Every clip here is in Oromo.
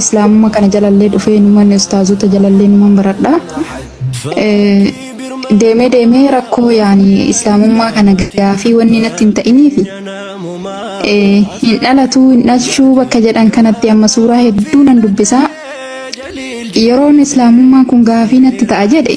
Islaamuma kana jalallee dhufee numan ustaazota jalallee numan baradha. Eh, Deemee deemee rakkoo yaani islaamummaa kana gaafii wanni natti hin ta'iniifi eh, hin dhalatuu hin dhalchuu bakka jedhan kanatti amma suuraa hedduu nan dubbisaa. Yeroon islaamummaan kun gaafii natti ta'a jedhe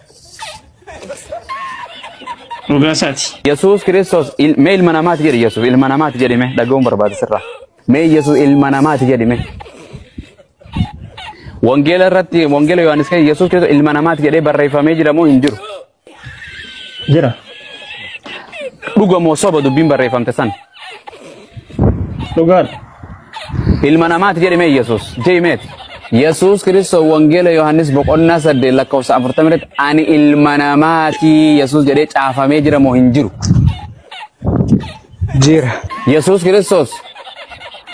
Dhugaasaati. Yesuus Kiristoos il- mee ilma namaati jedhi Yesuus ilma namaati jedhi mee dhaga'uun barbaada sirraa. Mee Yesuus ilma namaati jedhi mee. Wangeela irratti wangeela Yohaannis keessa Yesuus Kiristoos ilma namaati jedhee barreeffamee jira moo hin jiru? Jira. Dhuga moo soba dubbiin barreeffamte san? Dhugaadha. Ilma namaati jedhame Yesuus. Jeemeet. Yesuus Kiristoos Wangeela Yohaannis boqonnaa saddeet lakkoofsa afurtama irratti ani ilma namaati Yesuus jedhee caafamee jira moo hin jiru. Jira. Yesuus Kiristoos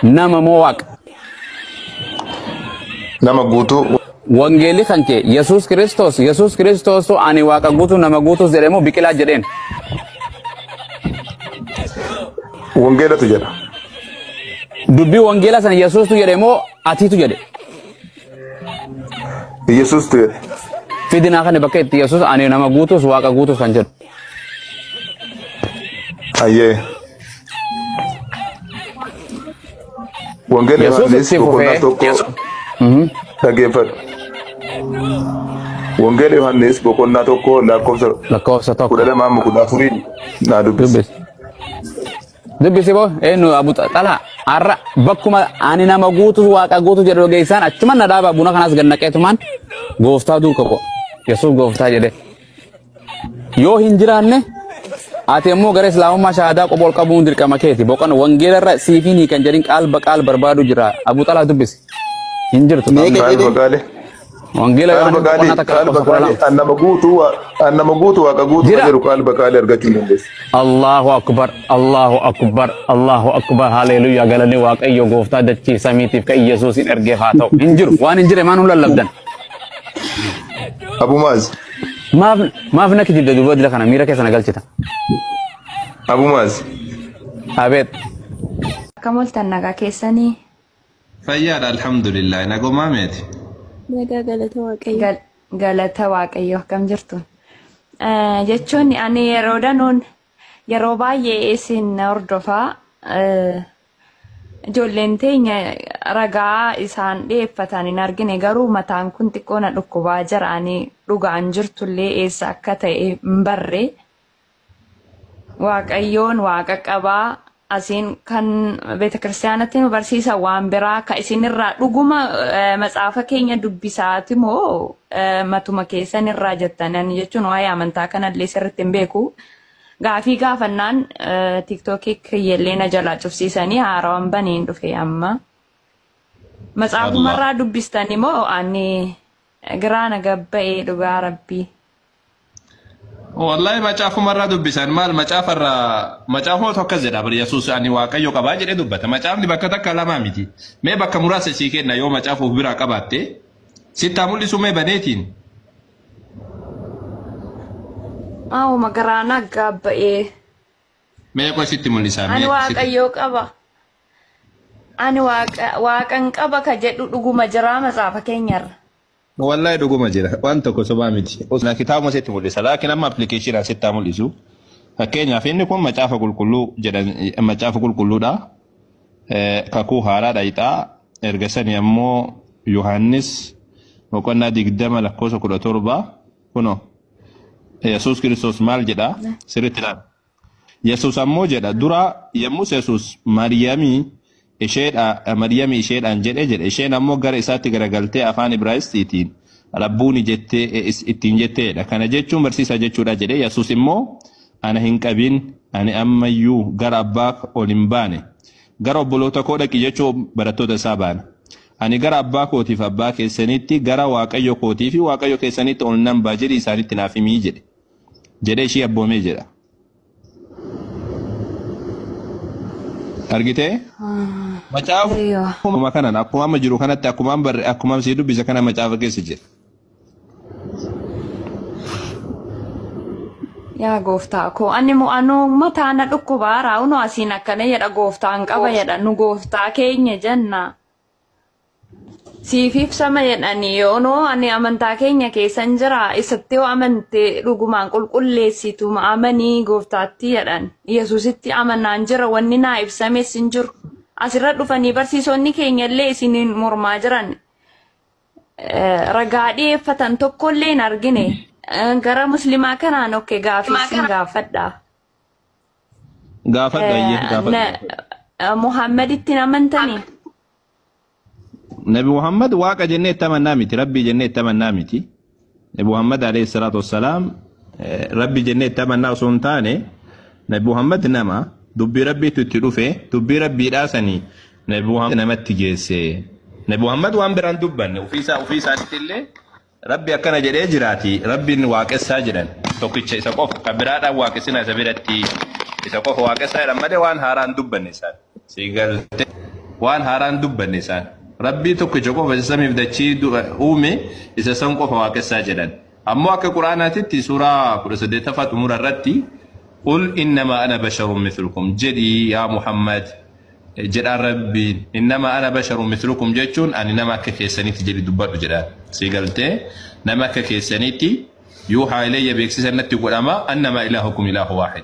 nama moo waaqa. nama guutuu Wangeelli kan kee Yesuus Kiristoos Yesuus Kiristoostu ani waaqa guutuu nama guutuus jedhee moo biqilaa jedheen. wangeelatu jedha. Dubbii wangeela sana Yesuustu jedhee moo atiitu jedhe. Yesuustu jedhe. Fidinaa kana bakka itti Yesuus ani nama guutuus waaqa guutuus kan jedhu. Hayyee. Wangeela Yesuus Yohaannis itti boqonnaa fufee tokko dhaggeeffadhu. Wangeela Yohaannis boqonnaa tokko lakkoofsa lakkoofsa kudha tokko lama amma kudha afurii naa dubbisi. dubbisi. Dubbisi boo eenyu abu xalaa har'a bakkuma ani nama guutu waaqa guutu jedhu dhageessaan achuman na dhaaba buna kanas gannaqeetumaan gooftaa duuka koo yesuus gooftaa jedhee. Yoo hin jiraanne ati immoo gara islaamummaa shahaadaa qofa ol qabuun dirqama keeti. Boqon wangeela irra siif hin hiikan jedhin qaal baqaal barbaadu jira. Abu Xalaa dubbisi. Hin jirtu. Mee Qaal jedhini baqaalee. Wangeela Qaal Yohaannis boqonnaa baqaalee. takka Qaal lakkoofsa kudha baqaalee. lama. An nama guutuu waa- an nama guutuu waaqa guutuu Jira. jedhu qaal baqaalee argachuu hin dandeessu. Allahu akbar, Allahu akbar, Allahu akbar, haleluyaa galanni waaqayyo gooftaa dachii samiitiif kan Yesuusin ergeef haa ta'u. Hin jiru, waan hin jire maan hin lallabdan. Abu Maaz. Maaf maaf na kijibda durba dila kana miira keessa na galchita. Abu Maaz. Abeet. Akkam oltan nagaa keessanii Fayyaadha alhamdulillah nagomaa meeti. Nagaa galata waaqayyo. Gal- galata waaqayyo akkam jirtu. Eh, Jechuun ani yeroo danuun yeroo baay'ee isin hordofaa eh, Ijoolleen teenya ragaa isaan dhiyeeffatan hin argine garuu mataan kun xiqqoo na dhukkubaa jira ani dhugaan jirtullee eessa akka ta'e hin barre. Waaqayyoon waaqa qabaa asiin kan beetakiristaanatti nu barsiisa waan biraa ka isinirraa dhuguma eh, matsaafa keenya dubbisaati moo eh, matuma keessan irraa jettanan jechuun waa'ee amantaa kanallee sirriitti hin beeku. Gaafii gaafannaan tiktookii kiyyellee na jalaa cufsiisanii haarawan baniin dhufe amma. Matsaafumarraa dubbistani moo ani giraana gabba'ee dhugaa rabbii. Wallahi macaafumarraa dubbisan maal macaafarraa macaafuma tokko jedha bar Yesuus ani waaqayyo qabaa jedhee dubbata macaafni bakka takka lamaa miti mee bakka muraasa sii kenna yoo macaafa of biraa qabaatte sittaa mul'isu mee baneetiin Maawo magaraa naggaa ba'ee. Mee qoy sitti mul'isaa. Ani waaqayyoo qaba. Ani waaqan qaba ka jedhu dhuguma jiraa matsaafa keenyarra. Wallahi dhuguma jira. Waan tokko sobaa miti. Osoo kitaabuma sitti mul'isa. Laakiin amma appilikeeshinaan sitti haa mul'isu. Fakkeenyaaf inni kun macaafa qulqulluu jedhan macaafa qulqulluudha. kakuu haaraa dhayxaa erga sani ammoo yohaannis boqonnaa digdama lakkoofsa kudha torba kuno yesus kiristoos maal jedha sirritti laal yesus ammoo jedha dura yommus yesus maryamii isheedha maryamii isheedhaan jedhe jedhe isheen ammoo gara isaatti garagaltee afaan ibraayistiitiin rabbuuni jettee ittiin jetteedha kana jechuun barsiisaa jechuudha jedhe yesus immoo Ana hin qabin, ani amma iyyuu gara abbaaf ol hin baane. Gara obboloota koo dhaqi jechuun barattoota isaa baana. Ani gara abbaa kootiif abbaa keessaniitti, gara waaqayyo kootii fi waaqayyo keessaniitti ol nan ba'a jedhi isaanitti naaf himii jedhe. Jedhee ishii abboomee jedha. Argitee? Macaafa Eeyyoo. akkuma kanan akkuma amma jiru kanatti akkuma barre akkuma sii dubbise kana macaafa keessa jira. Yaa gooftaa koo ani mo'anoo mataa na dhukkubaa raawunoo asiin akkana jedha gooftaan qaba jedha nu gooftaa keenya jenna. Siif ibsama jedhanii yoonoo ani amantaa keenya keessan jira isatti yoo amante dhugumaan qulqulleessitu amanii gooftaatti jedhan yesusitti amanaan jira wanni naa ibsames hin jiru asirra dhufanii barsiisonni keenya illee isiniin mormaa jiran ragaa dhiyeeffatan tokkollee hin argine. Gara muslimaa kanaan okke gaafii sin gaafadha. Gaafadha ayyee gaafadha. Muhammad ittiin amantanii? Nabi Muhammad waaqa jennee itti amannaa miti rabbii jennee itti amannaa miti. Nabi Muhammad alayhi salaatu wassalaam rabbi jennee itti amannaa osoo hin taane Nabi Muhammad nama dubbii rabbiitu itti dhufe dubbii rabbiidhaa sanii Nabi Muhammad namatti geesse. Nabi Muhammad waan biraan dubbanne ofiisaa ofiisaatti illee rabbi akkana jedhee jiraati rabbiin waaqessaa jedhan tokkicha isa qofa kan biraadhaan waaqessinaa isa biratti isa qofa waaqessaa jedhan malee waan haaraa hin dubbanne isaan. Sii galte waan haaraan dubbanne isaan. Rabbii tokkicha qofa isa samiif dachii du- uume isa san qofa waaqessaa jedhan. Ammoo akka Qur'aanaatitti suuraa 18ffaa xumura irratti qul innama ana basharun mithlukum jedhii yaa Muhammad jedhaan Rabbiin innama ana basharun mithlukum jechuun ani nama akka keessanitti jedhi dubbadhu jedhaan. Sii galtee nama akka keessanitti yuuhaa ilayya beeksisa natti godhama annama ilaahukum ilaahu waahid.